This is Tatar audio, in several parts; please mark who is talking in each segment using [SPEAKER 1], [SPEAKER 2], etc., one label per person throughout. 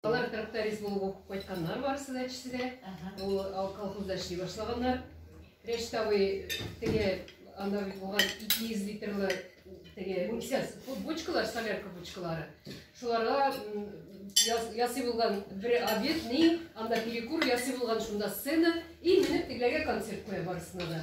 [SPEAKER 1] Алар тракторист булып укып кайтканнар барысы да эчесе дә. Ул колхозда эшли башлаганнар. Рәшит абый теге анда бит булган 200 литрлы теге буксяс, бочкалар, солярка бочкалары. Шуларга ясый булган бер обед, ни, анда перекур ясый булган шунда сцена и менеп тегеләргә концерт куя барысына да.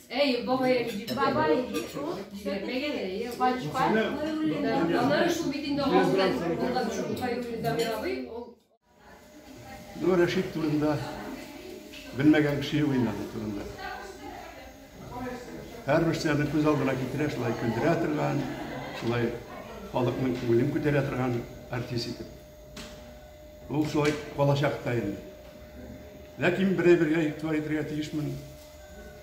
[SPEAKER 2] Эй, бабай, бабай, пачка. Аннары
[SPEAKER 1] шул бит инде алдан булган шул кайры дамировый. Ну,
[SPEAKER 3] Рәшит турында белмәгән кеше юк инде аның турында. Һәрбер нәрсәне күз алдына китерә, шулай көлдерә торган, шулай халыкның күңелен күтәрә торган артист итеп. Ул шулай калачак та инде. Ләкин берәй бергә игътибар итәргә тиешмен.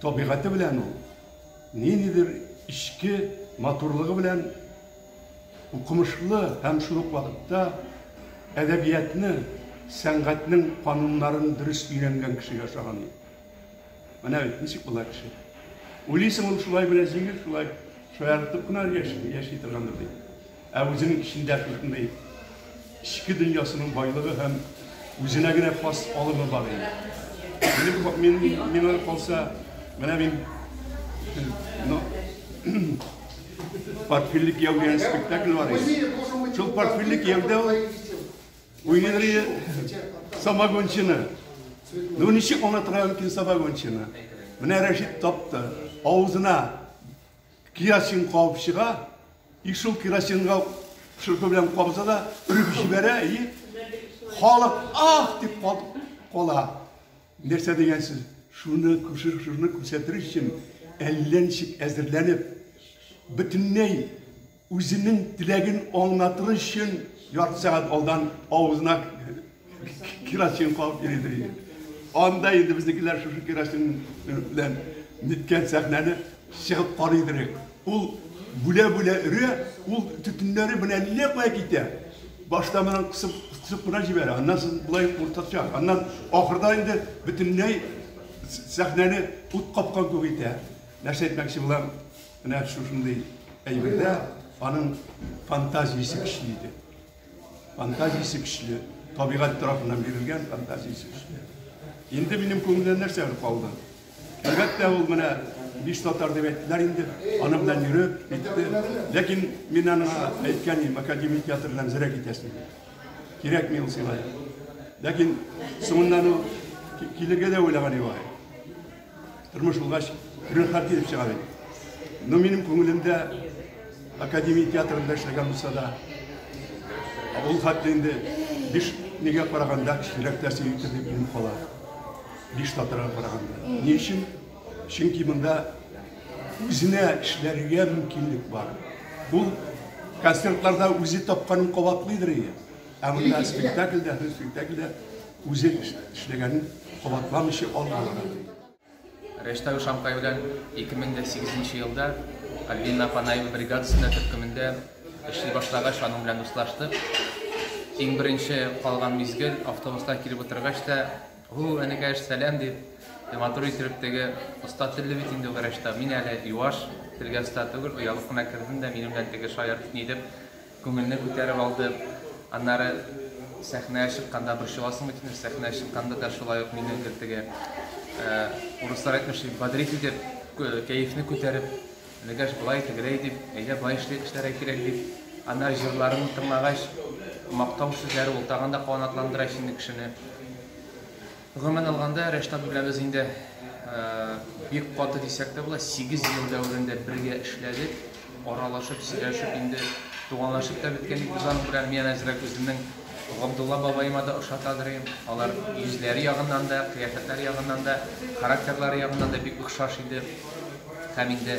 [SPEAKER 3] Табигате белән ул ниндидер эчке матурлыгы белән укымышлы һәм шул ук вакытта әдәбиятны, сәнгатьнең кануннарын дөрес өйрәнгән кешегә ошаган иде. Менә бит, ничек була кеше. Уйлыйсың, ул шулай гына җиңел, шулай шаяртып кына яши торгандыр дип. Ә үзенең эчендә шушындый эчке дөньясының байлыгы һәм үзенә генә хас алымы бар инде. Мин, мин, миңа калса, менә мин ну, портфельле кияү дигән спектакль бар иде. Шул портфельле кияүдә ул Уйлый самогончыны. Ну ничек аңа торган икән самогончыны? Менә Рәшит тапты. Авызына керосин кабып чыга. И шул керосинга шырпы белән кабыза да өреп җибәрә и халык ах дип кала. Нәрсә дигәнсез, шуны шуны күрсәтер өчен әллә ничек әзерләнеп, бөтенләй үзенең теләген аңлатыр өчен ярты сәгать алдан авызына керосин кабып йөридер иде. Анда инде безнекеләр шушы керосин белән ниткән сәхнәне Чыгып карый идерек. Ул бүлә-бүлә өрә, ул төтеннәре белән әллә кая китә. Башта моннан кысып-кысып кына җибәрә, аннан соң болай уртача, аннан ахырда инде бөтенләй сәхнәне ут капкан күк итә. Нәрсә әйтмәкче булам, менә шушындый әйбердә аның фантазиясе көчле иде. Фантазиясе көчле, табигать тарафыннан бирелгән фантазиясе көчле. Инде минем күңелдә нәрсәләр калды? Әлбәттә, ул менә биш татар дип әйттеләр инде, аның белән йөреп, китте. Ләкин мин аны әйткән идем, академия театрыннан зря китәсең. Кирәкми ул сиңа. Ләкин соңыннан ул килергә дә уйлаган иде. Тормыш булгач, төрле хәл килеп чыга бит. Но минем күңелемдә академия театрында эшләгән булса да, ул хәтле инде биш нигә караганда кечерәк нәрсә итеп килеп кала. Биш татарга караганда. Ни өчен? Чөнки монда үзенә эшләргә мөмкинлек бар. Ул концертларда үзе тапканын кабатлыйдыр иде. Ә монда спектакльдә, һәр спектакльдә Үзе эшләгәнен кабатламыйча ал булырга. Рәштәү
[SPEAKER 4] Шамкай белән 2008 нче елда Альбина Панаева бригадасында төркемендә эшли башлагач, аның белән дуслаштык. Иң беренче калган мизгел, автобустан килеп утыргач та, Һу, энекәш, сәлам, дип, матур иттереп теге, оста телле бит инде ул Рәштәү, мин әле юаш, телгә оста түгел, оялып кына кердем дә, минем белән теге шаяртып, ни дип, Күңелне күтәреп алды. Аннары сәхнәгә чыкканда борчыласың бит инде, сәхнәгә чыкканда да шулай ук минемдер теге, урыслар әйтмешли, бодрить итеп, кәефне күтәреп, Нәгәш болай, тегеләй дип, әйдә болай эшли, эшләргә кирәк дип. Аннары җырларымны тыңлагач, мактау сүзләре ул тагын да канатландыра сине, кешене. Гомумән алганда, Рәшит абый белән без инде бик каты дисәк тә була, сигез ел дәверендә бергә эшләдек, аралашып, сөйләшеп, инде туганлашып та беткән бит без аның белән. Мин әзрәк үземнең Габдулла бабаема да ошатадыр идем. Алар йөзләре ягыннан да, кыяфәтләре ягыннан да, характерлары ягыннан да бик охшаш иде. Һәм инде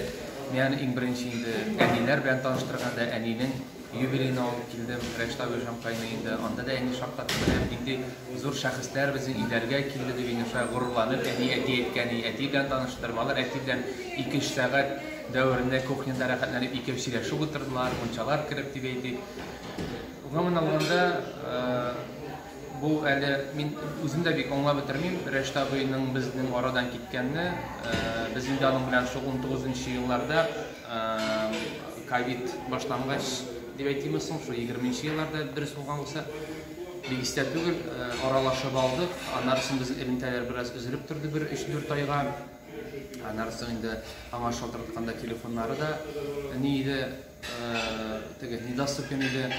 [SPEAKER 4] мин аны иң беренче инде әниләр белән таныштырганда, әнинең Юбилейны алып килдем, Рәшта Гөлҗан кайный инде, анда да әни шаккатып, менә нинди зур шәхесләр безнең Иләргә килде, дип Илнурша горурланып әни әти әйткән и, әти белән таныштырмалар, әти белән ике-өч сәгать дәверендә кухняда рәхәтләнеп икәү сөйләшеп утырдылар, мунчалар кереп дип әйтик. Гомумән алганда, бу әле мин үзем дә бик аңлап бетермим, Рәшта абыйның безнең арадан киткәнне, без инде аның белән шул унтугызынчы елларда Ковид башлангач, дип әйтимме соң, шул егерменче елларда дөрес булган булса, бик истә түгел, аралашып алдык. Аннары соң безнең элемтәләр бераз өзелеп торды бер 3-4 айга. Аннары соң инде аңа шалтыртканда телефоннары да ни иде, теге недоступен иде.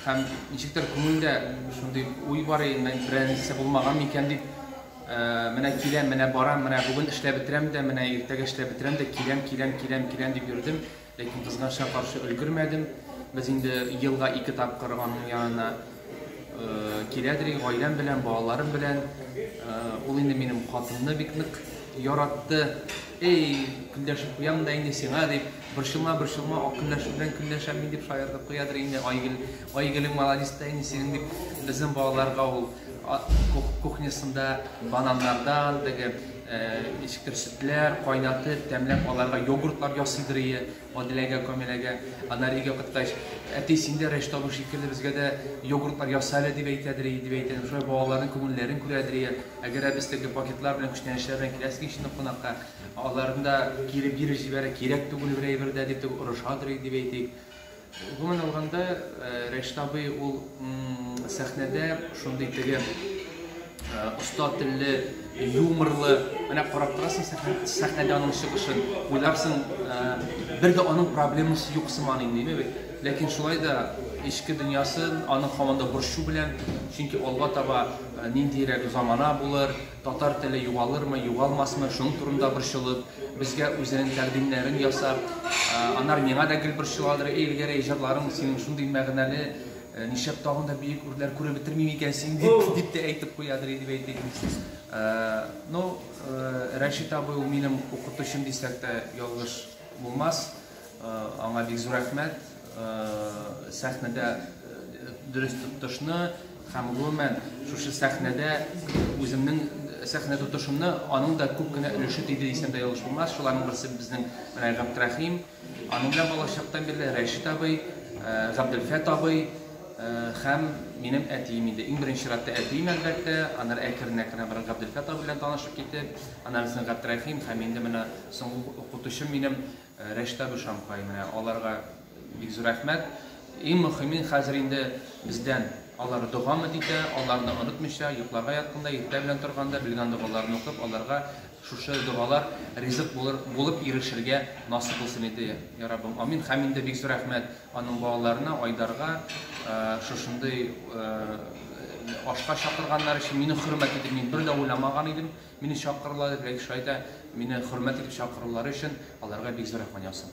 [SPEAKER 4] Һәм ничектер күңелдә шундый уй бар иде, берәр нәрсә булмаган микән дип, Менә киләм, менә барам, менә бүген эшләп бетерәм дә, менә иртәгә эшләп бетерәм дә, киләм, киләм, киләм, киләм дип йөрдем, ләкин кызганычка каршы өлгермәдем. Без инде елга ике тапкыр аның янына киләдер идек, гаиләм белән, балаларым белән. Ул инде минем хатынны бик нык яратты. Эй, көнләшеп куям да инде сиңа дип, борчылма, борчылма, ак көнләшү белән көнләшәм мин дип шаяртып куядыр инде. Айгөл, Айгөлең молодец та инде синең дип, безнең балаларга ул Кухнясында бананнардан теге ишкер сөтләр кайнатып, тәмләп аларга йогуртлар ясыйдыр ие, Адиләгә, Камиләгә. Аннары өйгә кайткач, әти, син дә Рәшит абый шикелле безгә дә йогуртлар яса әле, дип әйтәдер ие, дип әйтә. Шулай балаларның күңелләрен күрәдер ие. Әгәр ә без теге пакетлар белән, күчтәнәчләр белән киләсең ич инде кунакка, аларны да кире биреп җибәрә, кирәк түгел бер әйбер дә, дип теге орышадыр ие, дип әйтик. Гомумән алганда, Рәшит абый ул сәхнәдә шундый теге оста телле, юморлы, менә карап торасың сәхнәдә аның чыгышын, уйларсың, бер дә аның проблемасы юк сыман инде, әйеме бит? Ләкин шулай да эчке дөньясын аны һаман да борчу белән, чөнки алга таба ниндиерәк замана булыр, Татар теле югалырмы, югалмасмы, шуның турында борчылып, безгә үзенең тәкъдимнәрен ясап, аннары миңа да гел борчыладыр, Эй, Эльгәрәй, иҗатларың синең шундый мәгънәле, нишләп тагын да бөек үрләр күреп бетермим икән син, дип, дип тә әйтеп куядыр иде, дип әйтик. Ну, Рәшит абый ул минем укытучым дисәк тә ялгыш булмас. Аңа бик зур рәхмәт. сәхнәдә дөрес тотышны һәм гомумән шушы сәхнәдә үземнең сәхнә тотышымны аның да күп кенә өлеше тиде дисәм дә ялгыш булмас. Шуларның берсе безнең менә Габдрахим, аның белән балачактан бирле Рәшит абый, Габделфәт абый һәм минем әтием инде. Иң беренче чиратта әтием әлбәттә, аннары әкрен-әкрен бер Габделфәт абый белән танышып китеп, аннары Габдрахим һәм инде менә соңгы укытучым минем Рәшта Душанбай менә аларга бик зур рәхмәт. Иң мөхиме хәзер инде бездән алар догамы дитә, аларны онытмыйча, йокларга ятканда, иртә белән торганда белгән догаларын укып, аларга шушы догалар ризык булыр булып ирешергә насыйп булсын иде, я Раббым, амин. Хәм инде бик зур рәхмәт аның балаларына, Айдарга, шушындый ашка чакырганнар өчен. Мине хөрмәт итеп, мин бер дә уйламаган идем, Мине чакырулары, ләкин шулай да мине хөрмәт итеп чакырулары өчен аларга бик зур рәхмәт яусын.